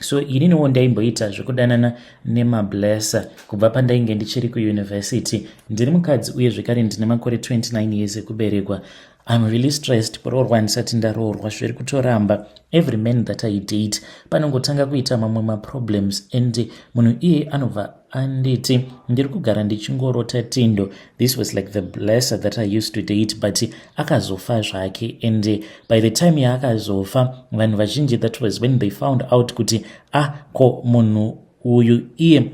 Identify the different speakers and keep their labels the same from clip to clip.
Speaker 1: so ininiwo ndaimboita zvekudanana nemablesser kubva pandainge ndichiri kuuniversity ndiri mukadzi uye zvekare ndine makore 29 years ekuberekwa I'm really stressed kuroorwa ndisati ndaroorwa zviri kutoramba every man that I date panongotanga kuita mamwe maproblems and munhu iye anobva anditi ndiri kugara ndichingorota tindo this was like the blesser that i used to date but akazofa zvake and eh, by the time yaakazofa vanhu vazhinji that was when they found out kuti ah ko munhu uyu iye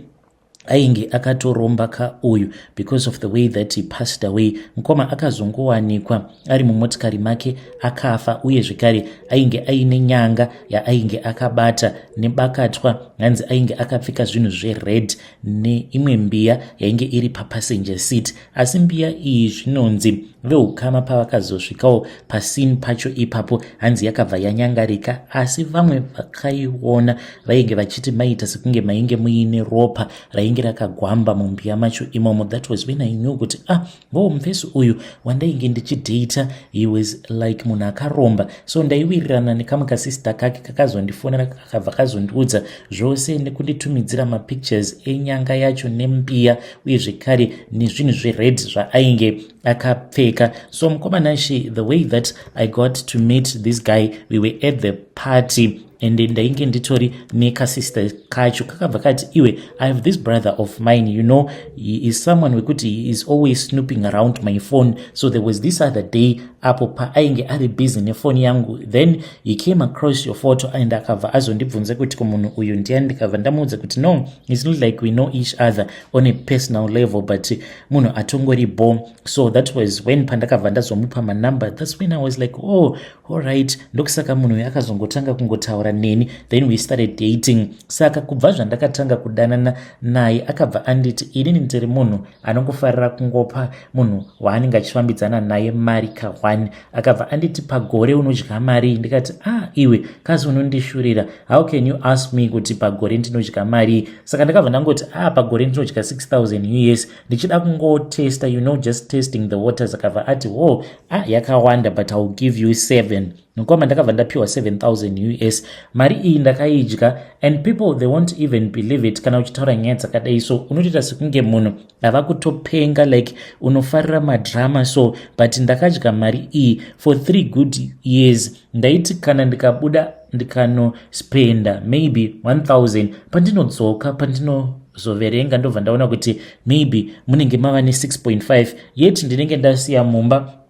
Speaker 1: ainge akatoromba ka uyu Because of the way that he passed away, mkoma akazongowanikwa ari mumotikari make akafa uye zvekare ainge aine nyanga yaainge akabata nebakatwa hanzi ainge akapfeka zvinhu zvered neimwe mbiya yainge iri papassenger seat asi mbiya iyi zvinonzi veukama pavakazosvikawo pasini pacho ipapo hanzi yakabva yanyangarika asi vamwe vakaiona vainge vachiti maita sekunge mainge muine ropa rainge rakagwamba mumbiya macho imomo that was when i knew kuti ah ngoo mufesi uyu wandainge ndichidata he was like munhu akaromba so ndaiwirirana nekamwe kasista kake kakazondifonera kakabva kazondiudza zvose nekunditumidzira mapictures enyanga yacho nembiya uye zvekare nezvinhu zvered zvaainge akapfeka so mukomana she the way that i got to meet this guy we were at the party and ndainge nditori nekasister kacho kakabva kati iwe i have this brother of mine you know he is someone wekuti he is always snooping around my phone so there was this other day apo paainge ari busy nefoni yangu then he came across your photo and akabva azondibvunza kuti kumunhu uyu ndiyani ndikabva ndamuudza kuti no its not like we know each other on a personal level but munhu atongori bo so that was when pandakabva ndazomupa manumber thats when i was like oh Alright, ndokusaka munhu uyu akazongotanga kungotaura neni then we started dating. Saka kubva zvandakatanga kudanana naye akabva anditi inini ndiri munhu anongofarira kungopa munhu waanenge achifambidzana naye mari kahwani. Akabva anditi pagore unodya mari ndikati ah iwe kazi unondishurira how can you ask me kuti pagore ndinodya mari. Saka ndakabva ndangoti ah pagore ndinodya 6000 us ndichida kungotesta you know just testing the waters akabva ati wo oh, ah, yakawanda but iwill give you 7 mukoma ndakabva ndapiwa 7000 us mari iyi ndakaidya and people they won't even believe it kana uchitaura nyaya dzakadai so unotoita sekunge munhu ava kutopenga like unofarira madrama so but ndakadya mari iyi for three good years ndaiti kana ndikabuda ndikanospenda maybe 1000 pandinodzoka pandinozoverenga ndobva ndaona kuti maybe munenge mava ne6.5 yet ndinenge ndasiya mumba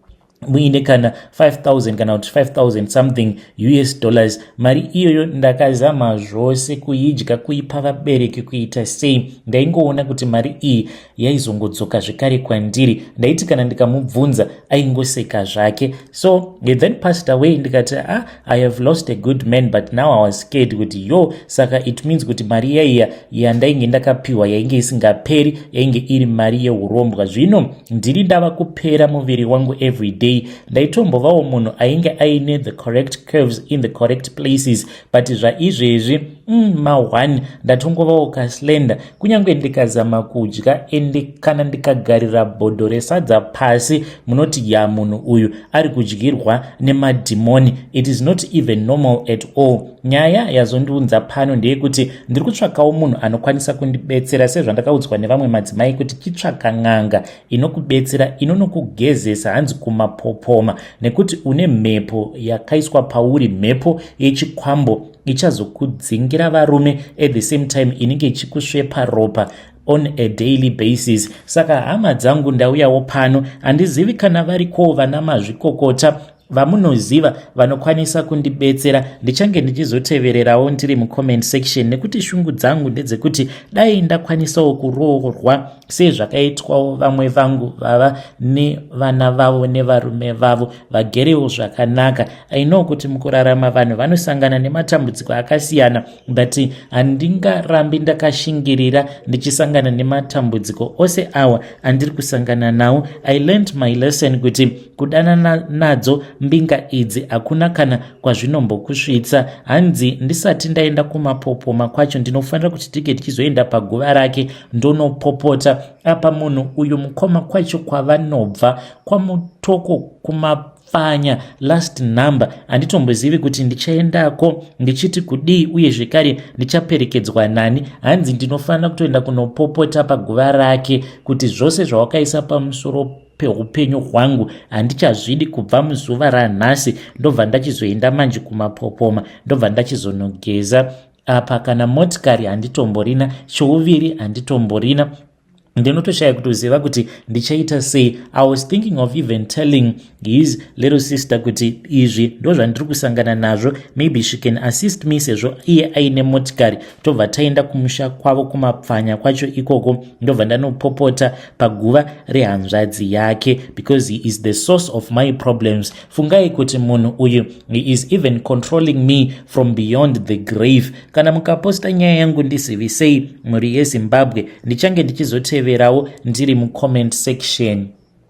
Speaker 1: muine kana 5000 kana kuti 5000 something us dollars mari iyoyo ndakazama zvose kuidya kuipa vabereki kuita sei ndaingoona kuti mari iyi yaizongodzoka zvekare kwandiri ndaiti kana ndikamubvunza aingoseka zvake so he then passed away ndikati ah, i have lost a good man but now i was scared kuti yo saka it means kuti mari yaiya yandainge ndakapiwa yainge isingaperi yainge iri mari yeurombwa zvino ndiri ndava kupera muviri wangu every day ndaitombovawo munhu ainge aine the correct curves in the correct places but zvaizvezvi mm, mahwani ndatongovawo kaslender kunyange ndikazama kudya ende kana ndikagarira bhodho resadza pasi munoti ya munhu uyu ari kudyirwa nemadhimoni it is not even normal at all nyaya yazondiunza pano ndeyekuti ndiri kutsvakawo munhu anokwanisa kundibetsera sezvandakaudzwa nevamwe madzimai kuti chitsvaka n'anga inokubetsera inonokugezesa hanzi kumapopoma nekuti une mhepo yakaiswa pauri mhepo yechikwambo ichazokudzingira varume at the same time inenge ichikusvepa ropa on a daily basis saka hama dzangu ndauyawo pano handizivi kana varikowo vana mazvikokota vamunoziva vanokwanisa kundibetsera ndichange ndichizotevererawo ndiri mucomment section nekuti shungu dzangu ndedzekuti dai ndakwanisawo kuroorwa sezvakaitwawo vamwe vangu vava nevana vavo nevarume vavo vagerewo zvakanaka ainow kuti mukurarama vanhu vanosangana nematambudziko akasiyana but handingarambi ndakashingirira ndichisangana nematambudziko ose awa andiri kusangana nawo i learnt my lesson kuti kudanana nadzo mbinga idzi hakuna kana kwazvinombokusvitsa hanzi ndisati ndaenda kumapopoma kwacho ndinofanira kuti tige tichizoenda paguva rake ndonopopota apa munhu uyu mukoma kwacho kwavanobva kwamutoko kuma pfanya last number handitombozivi kuti ndichaendako ndichiti kudii uye zvekare ndichaperekedzwa nani hanzi ndinofanira kutoenda kunopopota paguva rake kuti zvose zvawakaisa pamusoro peupenyu hwangu handichazvidi kubva muzuva ranhasi ndobva ndachizoenda manje kumapopoma ndobva ndachizonogeza apa kana motikari handitomborina chouviri handitomborina ndinotoshaya kutoziva kuti ndichaita sei i was thinking of even telling his little sister kuti izvi ndozvandiri kusangana nazvo maybe she can assist me sezvo iye aine motikari tobva taenda kumusha kwavo kumapfanya kwacho ikoko ndobva ndanopopota paguva rehanzvadzi yake because he is the source of my problems fungai kuti munhu uyu he is even controlling me from beyond the grave kana mukaposta nyaya yangu ndisivisei mhuri yezimbabwe ndichange ndichizoteverawo ndiri mucomment section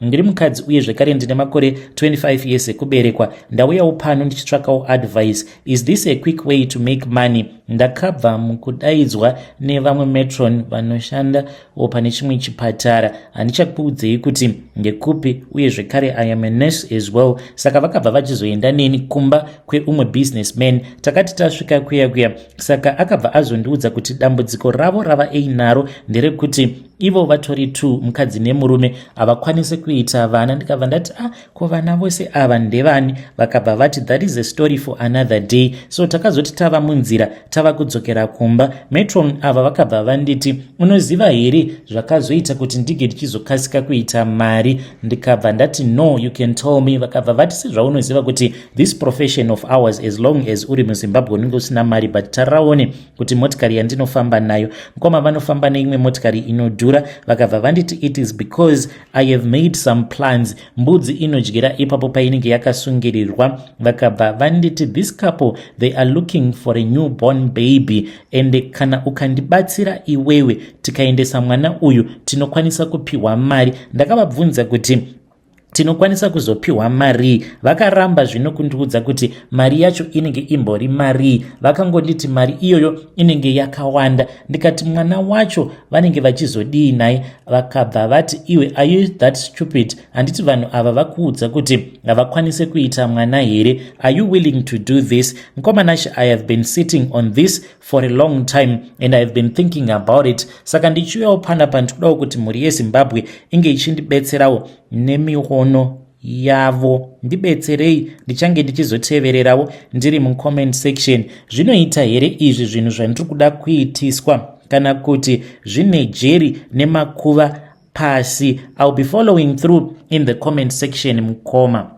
Speaker 1: ndiri mukadzi uye zvekare ndine makore 25 years ekuberekwa ndauyawo pano ndichitsvakawo advice is this a quick way to make money ndakabva mukudaidzwa nevamwe metron vanoshanda wo pane chimwe chipatara handichakuudzei kuti ndekupi uye zvekare i am a nurse as well saka vakabva vachizoenda neni kumba kweumwe business man takati tasvika kuya kuya saka akabva azondiudza kuti dambudziko ravo rava einaro nderekuti ivo vatori t mukadzi nemurume havakwanise kuita vana ndikabva ndati a ah, ko vana vose ava ndevani vakabva vati that is a story for another day so takazoti tava munzira tava kudzokera kumba metron ava vakabva vanditi unoziva here zvakazoita kuti ndige ndichizokasika kuita mari ndikabva ndati no you can tell me vakabva vati sezvaunoziva kuti this profession of ours as long as uri muzimbabwe unenge usina mari but taraone kuti motikari yandinofamba nayo mukoma vanofamba neimwe motikari inodhura vakabva vanditi it is because i have made some plans mbudzi inodyira ipapo painenge yakasungirirwa vakabva vanditi this couple they are looking for a new born baby ende kana ukandibatsira iwewe tikaendesa mwana uyu tinokwanisa kupiwa mari ndakavabvunza kuti tinokwanisa kuzopiwa marii vakaramba zvino kundiudza kuti mari yacho inenge imbori marii vakangonditi mari iyoyo inenge yakawanda ndikati mwana wacho vanenge vachizodii naye vakabva vati iwe are you that stupid handiti vanhu ava vakuudza kuti havakwanise kuita mwana here are you willing to do this mkomanashi i have been sitting on this for a long time and ihave been thinking about it saka ndichiuyawo panapa ndikudawo kuti mhuri yezimbabwe inge ichindibetserawo nemiono yavo ndibetserei ndichange ndichizotevererawo ndiri mucomment section zvinoita here izvi zvinhu zvandiri kuda kuitiswa kana kuti zvine jeri nemakuva pasi ill be following through in the comment section mukoma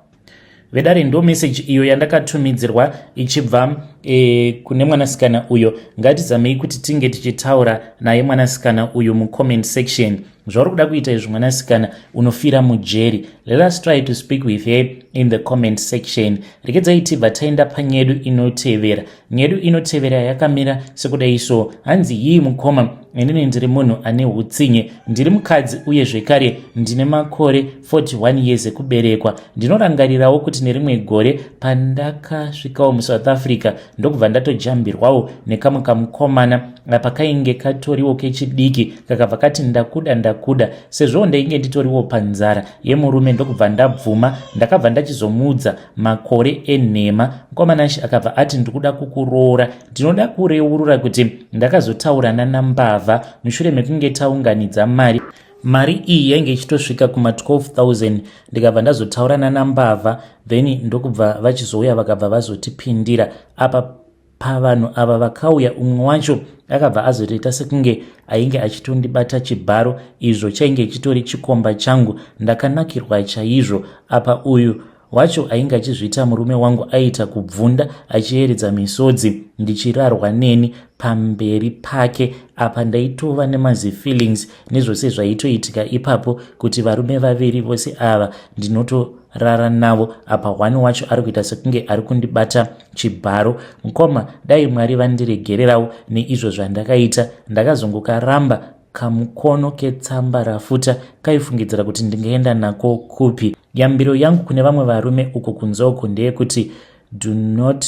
Speaker 1: vedare ndo message iyo yandakatumidzirwa ichibva e, kune mwanasikana uyo ngatizamei kuti tinge tichitaura naye mwanasikana uyu mucomment section zvauri kuda kuita izvi mwanasikana unofira mujeri let us try to speak with her in the comment section rekedzai tibva taenda panyedu inotevera Nyedu inotevera yakamira sekudai so hanzi hii mukoma inini ndiri munhu ane utsinye ndiri mukadzi uye zvekare ndine makore 41 years ekuberekwa ndinorangarirawo kuti nerimwe gore pandakasvikawo musouth africa ndokubva ndatojambirwawo nekamwe kamukomana apa kainge katoriwo kechidiki kakabva kati ndakuda ndakuda sezvoo ndainge nditoriwo panzara yemurume ndokubva ndabvuma ndakabva ndachizomuudza makore enhema mukoma nashi akabva ati ndikuda kukuroora ndinoda kureurura kuti ndakazotaurana nambavha mushure mekunge taunganidza mari mari iyi yainge ichitosvika kuma 12000 ndikabva ndazotaurana nambavha then ndokubva vachizouya vakabva vazotipindira apa Pavanhu ava vakauya umwe wacho akabva azotoita sekunge ainge achitondibata chibharo izvo chainge chitori chikomba changu ndakanakirwa chaizvo apa uyu wacho ainge achizviita murume wangu aiita kubvunda achiyeredza misodzi ndichirarwa neni pamberi pake apa ndaitova nemazifeelings nezvose zvaitoitika ipapo kuti varume vaviri vose ava ndinotorara navo apa one wacho ari kuita sekunge ari kundibata chibharo mkoma dai mwari vandiregererawo neizvo zvandakaita ndakazongokaramba kamukono ketsamba rafuta kaifungidzira kuti ndingaenda nako kupi yambiro yangu kune vamwe varume uko kunzoko ndeyekuti do not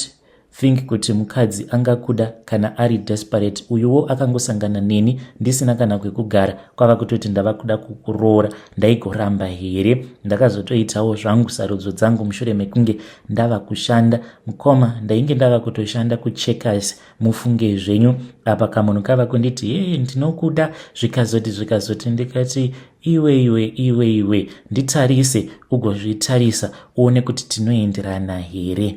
Speaker 1: think kuti mukadzi angakuda kana ari desperate uyuwo akangosangana neni ndisina kana kwekugara kwava kutoti ndava kuda kukuroora ndaigoramba here ndakazotoitawo zvangu sarudzo dzangu mushure mekunge ndava kushanda mukoma ndainge ndava kutoshanda kucheckers mufunge zvenyu apa kamunhu kava kunditi hee ndinokuda zvikazoti zvikazoti ndikati iwe iwe iwe iwe nditarise ugozvitarisa uone kuti tinoenderana here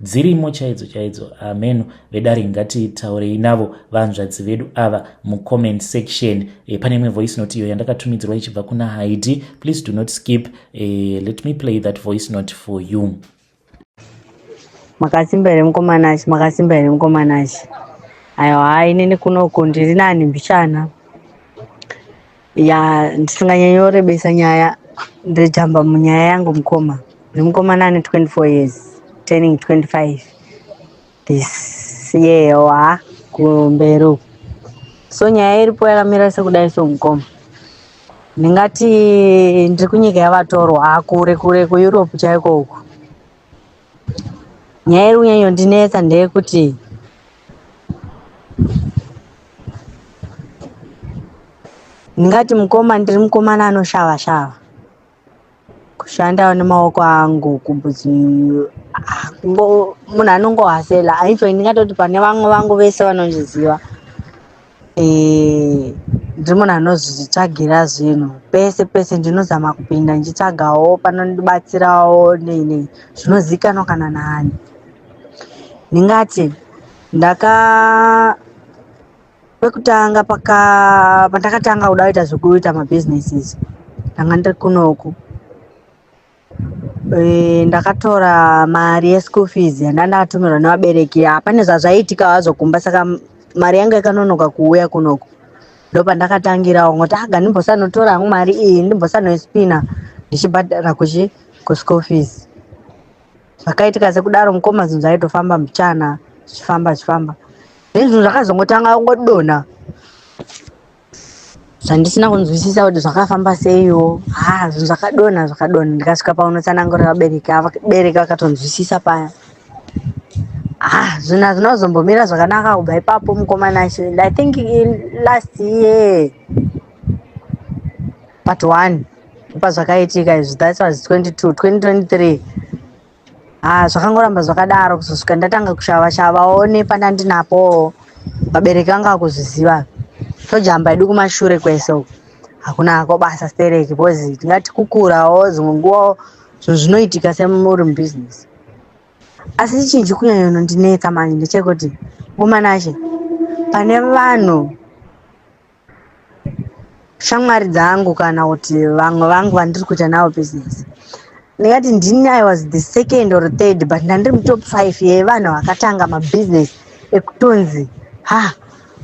Speaker 1: dzirimo chaidzo chaidzo hameno vedare ngatitaurei navo vanzvadzi vedu ava mucomment section e, pane imwe voice note iyo yandakatumidzirwa ichibva kuna haidi please do not skip e, let me play that voice note for you makasimba
Speaker 2: here mukomanashi makasimba here mukomanashi aiwa inini kunoko ndiri nani mbichana ya ndisinganyanyorebesa nyaya ndejamba munyaya yangu mukoma nemukomana ane 24 years turning 25 this year wa kumberi uku so nyaya iripo yakamira sekudai so mukoma ndingati ndiri kunyika yavatorwa akure kure kueurope chaiko uku nyaya iri kunyanyondinetsa ndeyekuti Ndingati mukoma ndiri mukomana anoshava shava. Kushandawo nemaoko angu kubudzi ah, kungo- munhu anongohasela. Aitwa ndingatoti pane vamwe vangu vese vanozviziva. Eh, ndiri munhu anozvitsvagira zvinhu pese pese ndinozama kupinda ndichitsvagawo panondibatsirawo nei nei zvinozivikanwa kana naani ndingati ndaka pekutanga paka pandakatanga kuda kuita zvekuita mabhizinesis ndanga ndiri kunoku Eh, ndakatora mari yeschool fees yanda ndakatumirwa nevabereki hapane zvazvaiitika hazvo kumba saka mari yangu yakanonoka kuuya kunoko ndopandakatangirawo ngoti aga ah, ndimbosanotora hangu mari iyi ndimbosanoispina ndichibhadhara kuchi kuschool fees zvakaitika sekudaro mukoma zvinhu zvaitofamba muchana zvichifamba zvichifamba zvinhu zvakazongotanga kungodonha zvandisina kunzwisisa kuti zvakafamba seiwo ha zvinhu zvakadonha zvakadonha ndikasvika paunotsanangurira vabereki vabereki vakatonzwisisa paya ha zvinhu hazvina kuzombomira zvakanaka kubva ipapo mukomana acho and i think last year part one pazvakaitika izvi that was 22 2023 Ah, zvakangoramba zvakadaro kuzosvika ndatanga kushava shava one pandandinapo vabereki vanga vakuzviziva tojamba idu kumashure kwese uku hakuna hako basa stereki because tingati kukurawo dzimwe nguva zvinhu zvinoitika semuri mubusiness asi chii chikunyanya unondinetsa manje ndechekuti mumanashe pane vanhu shamwari dzangu kana kuti vamwe vangu vandiri kuita navo business ndingati ndini i was the second or third but ndandiri mutop five yevanhu vakatanga mabusiness ekutonzi ha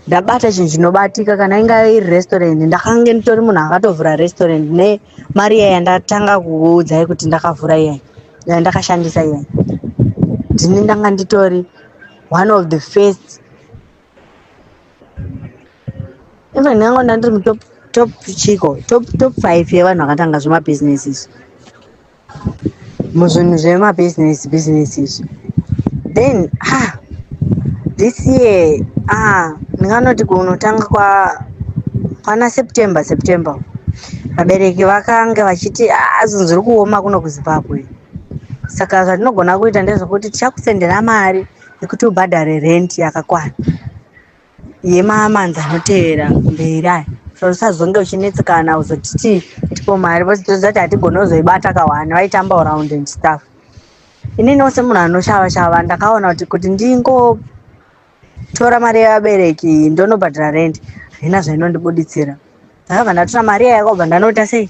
Speaker 2: ndabata chinhu chinobatika kana inga iri restaurant ndakange nditori munhu akatovhura restaurant nemari iya yandatanga kuudzai kuti ndakavhura iyai yandakashandisa iyai ndini ndanga nditori one of the first even ndango ndandiri mutop top chiko top top five yevanhu vakatanga zvemabhizinesi izvi muzvinhu zvemabhizinesi bhizinesi izvi then ah this year ah ndinganoti kunotanga kwa kwana september september vabereki vakange vachiti ah zvinhu zviri kuoma kuno kuzimbabwe saka zvatinogona kuita ndezvekuti tichakusendera mari yekuti ubhadhare rent yakakwana yemamanzi anotevera mberi aya so usazonge uchinetsekana uzotiti tipo mari vozotidza kuti hatigone kuzoibata kawani vaitamba around and stuff ininiwo semunhu anoshava shava ndakaona kuti kuti ndingotora mari yevabereki ndonobhadhara rent haina zvainondibuditsira ndakabva ndatora mari iya yakabva ndanota sei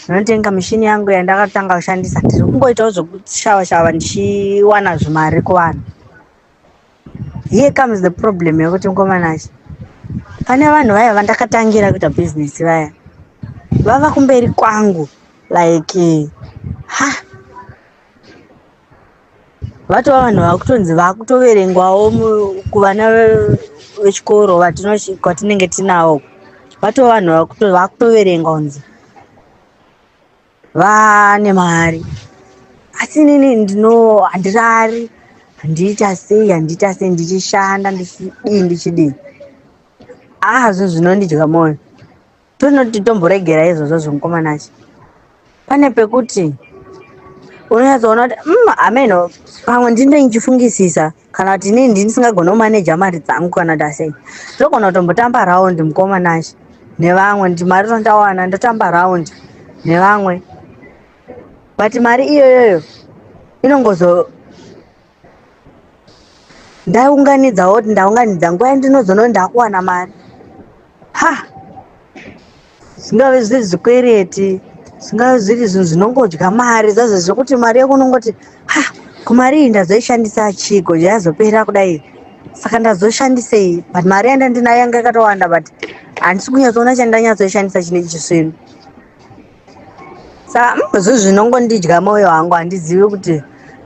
Speaker 2: ndinotenga mishini yangu yandakatanga kushandisa ndiri kungoitawo zvekushava shava ndichiwana zvimari kuvanhu here comes the problem yekuti mukomanachi pane vanhu vaya vandakatangira kuita bhizinesi vaya vava kumberi kwangu like ha vatova vanhu vakutonzi vakutoverengwawo kuvana vechikoro kwatinenge tinawo vatova vanhu vakutoverengwa kunzi vane mari asi inini ndino handirari handiita sei handiita sei ndichishanda ndichidii ndichidii aa zvinhu zvinondidya mwoyo Tonoti tomboregera izvozvo zvemukomana acho. Pane pekuti unonyatsoona kuti mm, ameno pamwe ndinenge ndichifungisisa kana kuti inini ndisingagona kumaneja mari dzangu kana kuti asei. Ndogona kutombotamba raundi mukomana acho nevamwe kuti mari tondawana ndotamba raundi nevamwe. But mari iyoyoyo inongozo ndaiunganidza woti ndaunganidza nguva yandinozono ndakuwana mari ha zvingave zviri zvikwereti zvingave zviri zvinhu zvinongodya mari zazvo zvekuti mari yekunongoti ha kumari iyi ndazoishandisa chigo yazopera kudai saka ndazoshandisei but mari yandandinayo yanga yakatowanda but handisi kunyatsoona chandanyatsoishandisa chine chisvinu sa zvinhu zvinongondidya moyo wangu handizivi kuti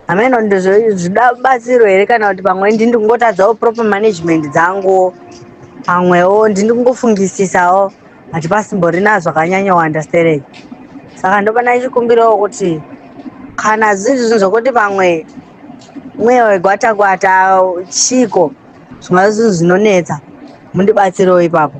Speaker 2: hameno ndizvida batsiro here kana kuti pamwe ndini ndikungotadzawo proper management dzangu pamwewo ndini kungofungisisawo hati pasimborina zvakanyanya uunderstanding saka ndopana ichikumbirawo kuti kana zviri zvinhu zvokuti pamwe mweya wegwata gwata chiko zvingava zvinhu zvinonetsa mundibatsirewo ipapo